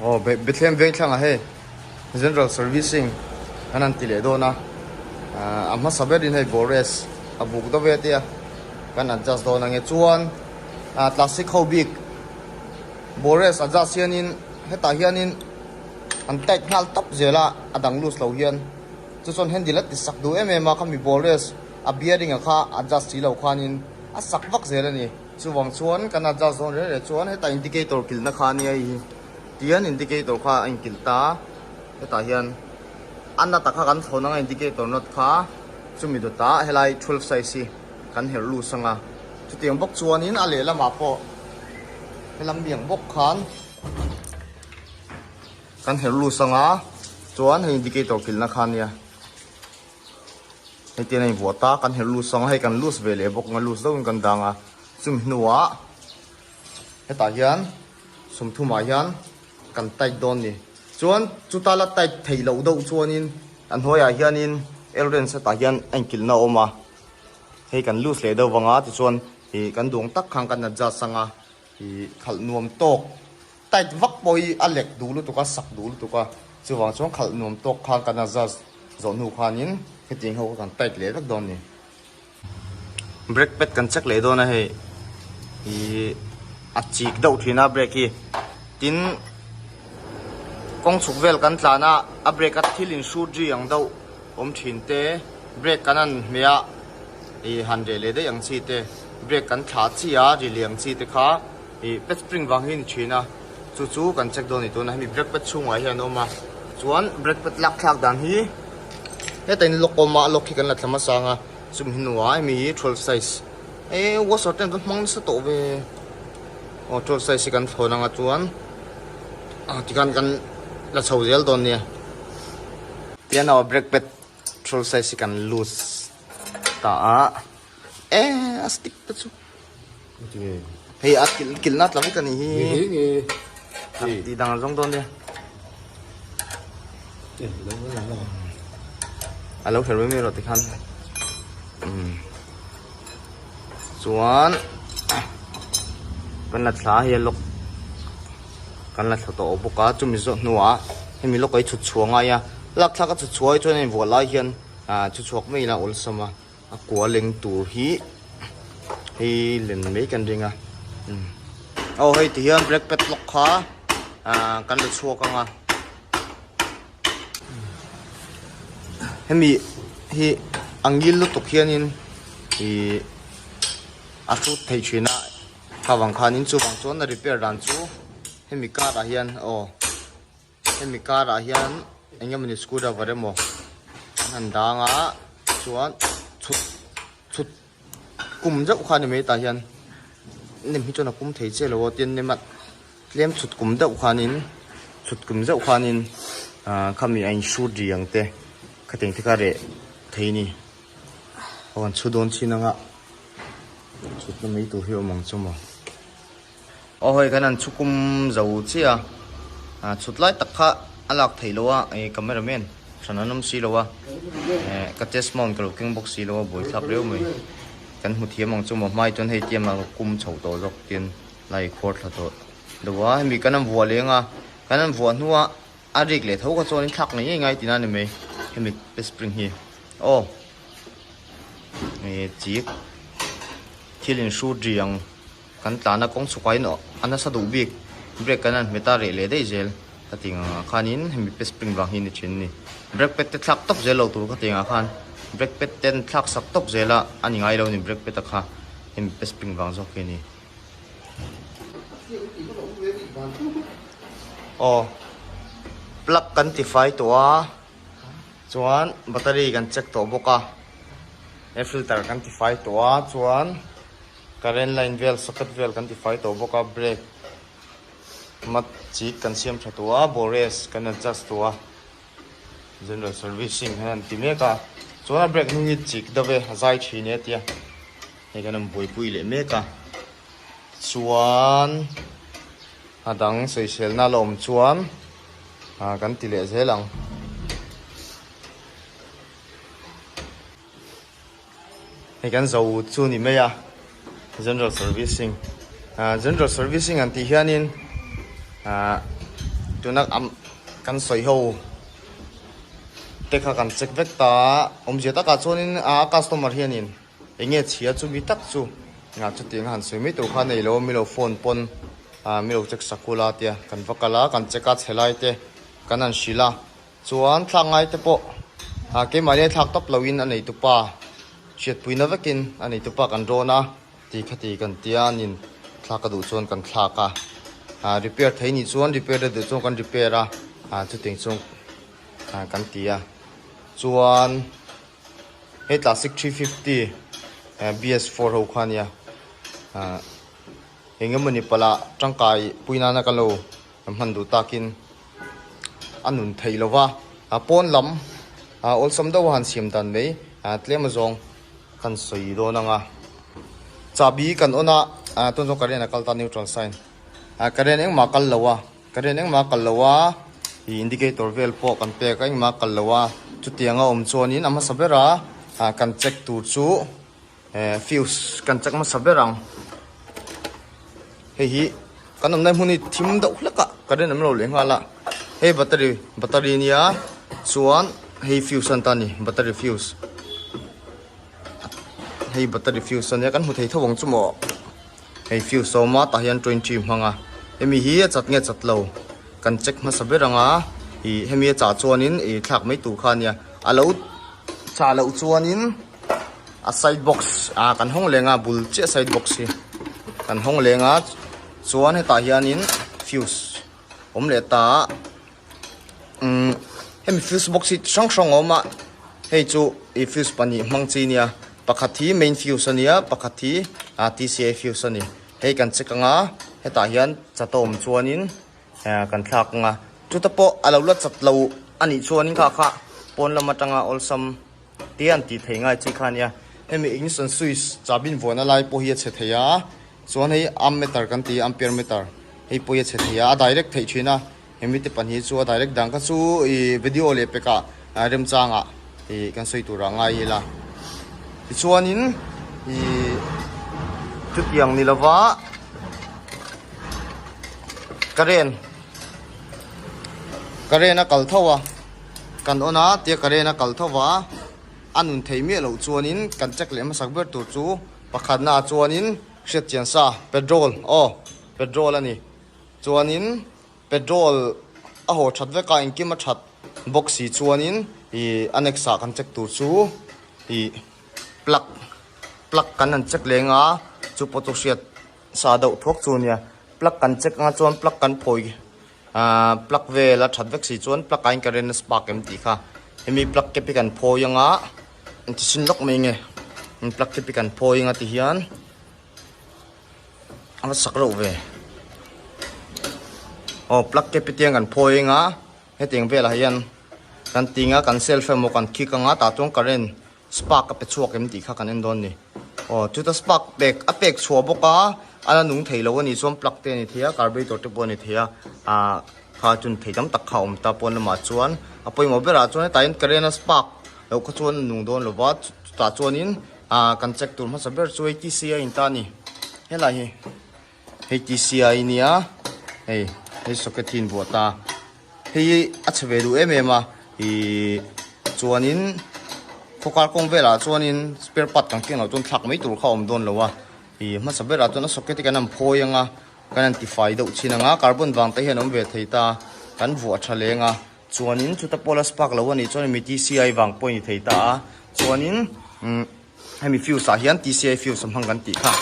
Aw, be Bethlehem veng thlang ah hei general servicing an han ti leh dawn a. A hmasa berin hei Gores a buk deuh e tia kan adjust dawn ange. Chuan classic ho bik Gores adjust hianin hetah hianin An tight nghal tawp zel a, a dang loose lo hian. Chu chuan handle a ti sak duh em em a, kha mi ball race a bearing a kha adjust si lo khanin a sak vak zel a ni. Chuvang chuan kan adjust zawn reh reh chuan heta indicator kilhna kha ania i hi tian indicator kha a inkilh ta a, hetah hian a nut a kha kan thlawn anga indicator nut kha chumi duta helai twelve size hi kan herh loose anga. Chutiang bawk chuanin a lehlamah pawh he lam biak bawk khan. Kan herh lut sang a, chuan hei indicator kilhna khan nia. Hei te nei vuah ta, kan herh lut sang a, hei kan loose ve leh bawk, loose deuh in kan dang a. Chumi hnuah hetah hian sum thum ah hian kan tight dawn ni. Chuan chuta la tight thei loh deuh chuan in, a hnuai ah hian in L range hetah hian a in kilhna a awm a. Hei kan loose leh deuh vang a, tichuan ih kan duang tak khan kan adjust sang a, ih khalh nuam tawk Tight vak pawh hi a lek duh lutuk a, sak duh lutuk a, chuvang chuan khalh nuam tawk khan kan adjust zawh hnu khanin hetiang ho kha kan tight leh vek dawn a ni. Brake pad kan check leh dawn a hei ih a chik deuh thin a brake hi, tin kawng chhuk vel kan tlan a, a brake a thil in shoot ri ang deuh awm thin te, brake kan an hme a ih han reh leh daih ang chi te, brake kan thlah chi a ri leh ang chi te kha, I pet spring vang hi ni thin a, chu chu kan check dawn ni tuna hemi brake pad chhungah hian a awm a, chuan brake pad lak thlak dan hi heta in lock awm a, a lock hi kan la thlam a sang a, chumi hi nuaih a mi hi twelve size e washer ten va hmang nasa tawh ve aw twelve size hi kan thlawn anga chuan ah tikhan kan la chho zel dawn nia piano a brake pad twelve size hi kan loose ta a e a stick te chu. Nge. Hei a kil kil na tla vek ani hi. Nge nge. Ti ti dang zong don de. Ti lo la la. Alo her mi ro ti khan. Um. Chuan kan la thla hi lok kan la thla to bawk a chumi zo hnuah hemi lok ei chhut chhuanga ya lak thlak a chhut chhuai chuan in vuah lai hian a chhut chhuak mai la awlsam a A kualeng tur hi hei len mai kan ring a aw hei ti hian brake pad lock kha kan la chhuak anga hemi hi angil lutuk hianin i a thu thei thin a khavang khanin chuvang chuan a repair dan chu hemi car ah hian aw. Hemi karah hian enge mawni screw driver emaw an han dang a chuan chhut chhut kum deuh kha ni mai tah hian nem hi chuan a pum thei che lo a tin nema tlem chhut kum deuh khan in chhut kum deuh khan in ah, khami a in shoot ri ang te kha teng te kha re thei ni ho an chu don chin anga chhut na mai tur hi awm ang chu maw Aw hawih khan an chhu kum zo chiah a, a chhutlai tak kha a lak theih lo a, eng camera man hran an awm si lo a, eh ka test mount ka lo keng bawk si lo a, buai thlak reuh mai, kan hmu thiam ang chu maw hmai chuan hei tiam a ka kum chho tawh zawk tin la ikhuar thla tawh deuh a, hemi kan han vuah leng a, kan han vuah hnua a rik leh tho kha chuan in thlak ngai ngai tina ni mai hemi pe spring hi, aw eh chi thil in hru ri ang. Kan tlana kawng chhuka in a nasa duh bik brake kan an hmet a reh leh daih zel ka ti ang ah khan in hemi pe spring vang hi ni thin ni brake pad te thlak tawk zel lo tur ka ti ang ah khan brake pad te an thlak sak tawk zel a a ni ngai lo ni brake pad a kha hemi pe spring vang zawk hi ni aw plug kan ti fai tawh a chuan battery kan check tawh bawk a air filter kan ti fai tawh a chuan Current line vel socket vel kan ti fai tawh bawk a, brake mat chik kan siam tha tawh a, bores kan adjust tawh a, general servicing hian an ti mek a, chuan a brake hnung hi chik deuh e, a zai thin e tia hei kan rawn buaipui leh mek a, chuan a dang sawiselna la awm chuan ah kan ti leh zel ang. Hei kan zo chu a ni mai a, General Servicing. Ahh General Servicing an tih hianin ahh tuna kan sawi ho te kha kan check vek ta a, awmzia takah chuanin a customer hianin eng nge chhia chu mi tak chu ahh chutiang a han sawi mai tur kha nei lo mi lo phone pawn ahh mi lo check sakula tia kan va kal a, kan check a chhe lai te kan han hrilh a. Chuan thlak ngai te pawh a keimahnei thlak tawp loin a nei tupa hriatpuina vekin a nei tupa kan rawn a tih kha ti kan tia nin thlak ka duh chuan kan thlak a a repair thei ni chuan repair la duh chuan kan repair a a chutih chuan a kan ti a chuan he classic three fifty bs four ho kha nia a engemawni pala tangkai pui nana ka lo Kan hman duh takin a nun thei lo va, pawn lam awlsam deuh a han siam dan mai, tlem a zawng kan sawi dawn ang a, chahbi kan on a, tun zawng ka rian a kal ta neutral sign, ka rian eng mah kal lo a, ka rian eng mah kal lo a, ih indicator vel pawh kan pek eng mah kal lo a, chutiang a awm chuan in a hmasa bera kan check tur chu Eh, fuse kan chak masa ber ang. Hei hi, kan awmnai hmun hi thim deuh hlek a, ka ren em lo leh nghal a. Hei battery, battery nia, chuan hei fuse an ta ni, battery fuse. Hei battery fuse ania, kan hmu thei tho ang chu maw. Hei fuse a awm a, tah hian 20 hmang a. Hemi hi a chat nge chat lo, kan check hmasa ber ang a. I hemi a chah chuanin i thlak mai tur kha nia. A lo chah loh chuanin a side box ah kan hawng leng a bul chiah side box hi kan hawng leng a chuan hetah hianin fuse awm leh ta a umm hemi fuse box hi chi hrang hrang a awm a hei chu ih fuse pahnih hmang chi a nia pakhat hi main fuse a nia pakhat hi ah tcl fuse a ni hei kan check ang a hetah hian chata awm chuanin ah kan thlak ang a chuta pawh a lo la chat loh a nih chuan kha kha pawn lam atanga awlsam-- Te an tih thei ngai chi kha nia. Hemi English and Swiss chahbin vuana lai pawh hi a chhe thei a, chuan hei ammeter kan ti a, ampere meter, hei pawh hi a chhe thei a, a direct theih thin a, he mite pahnih chu a direct dang kha chu i video leh pekah remchangah i kan sawi turah ngai ila. Tichuanin i chutiang ni lova current current a kal tho a, Kan awn a, tia Karena kal tho va, a nun thei miah loh chuanin kan check leh hmasak ber tur chu pakhatnaah chuanin hriatchian sa petrol aw petrol a ni chuanin petrol a haw that vek a, engkim a that bawk si chuanin ih a next ah kan check tur chu ih plug plug kan han check leng a, chu pawh chu hriat sa deuh thawk chu a nia, plug kan check anga chuan plug kan phawi. Aaa plug vel a that vek si chuan plug ain current a spark em tih kha hemi plug cap hi kan phawi anga engti hrin lawk mai nge hemi plug cap hi kan phawi anga ti hian ava sak reuh ve aw plug cap hi tiang kan phawi anga heteng velah hian kan tinga kan self emaw kan khik anga tah chuan current Spark a pe chhuak em tih kha kan en dawn ni. Aw, chuta spark pek, a pek chhuah bawk a, a la nung thei lo a ni chuan plug te a ni thei a, carburetor te pawh a ni thei a, ah kha chun thei tam tak kha a awm ta, pawn lamah chuan a pawimawh berah chuan he tain current a spark loh kha chuan a nung dawn lo va, chutah chuanin ah kan check tur hmasa ber chu eighty C a in ta a ni. Helai hi. hei tisia i nia hei hei socket hi in vuah ta hei a chhe ve duh em em a i chuanin khawkar kawng velah chuanin spare part kan kenlo chuan thlak mai tur kha a awm dawn lo a i hmasa berah chuan a socket hi kan han phawi anga kan han tifai deuh chin anga carbon vang te hian awm ve thei ta kan vuah tha leng a chuanin chuta pawh la spark lo a nih chuan mi tisia vang pawh a ni thei ta a chuanin umm hemi fuse ah hian tcl fuse a hmang kan tih kha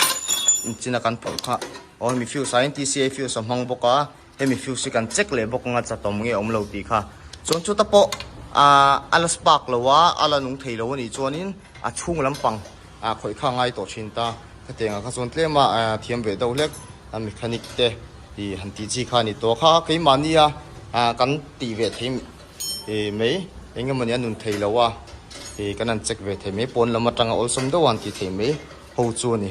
engchin a kan phawrh kha aw hemi fuse ah hian tcl fuse a hmang bawk a hemi fuse hi kan check leh bawk anga chatawm nge awm lo tih kha chuan chuta pawh ah ala spark lo a ala nung thei lo a nih chuanin a chhung lampang ah khawih kha a ngai tawh thin ta hetiang ah kha chuan tlema ah thiam ve deuh hlek a mechanic te ih han tih chi kha a ni tawh a kha keimahnia ah kan tih ve thei-- e mai eng emawni a nun thei loh a e kan han check ve thei mai pawn lam atanga awlsam deuh a han ti thei mai ho chu a ni.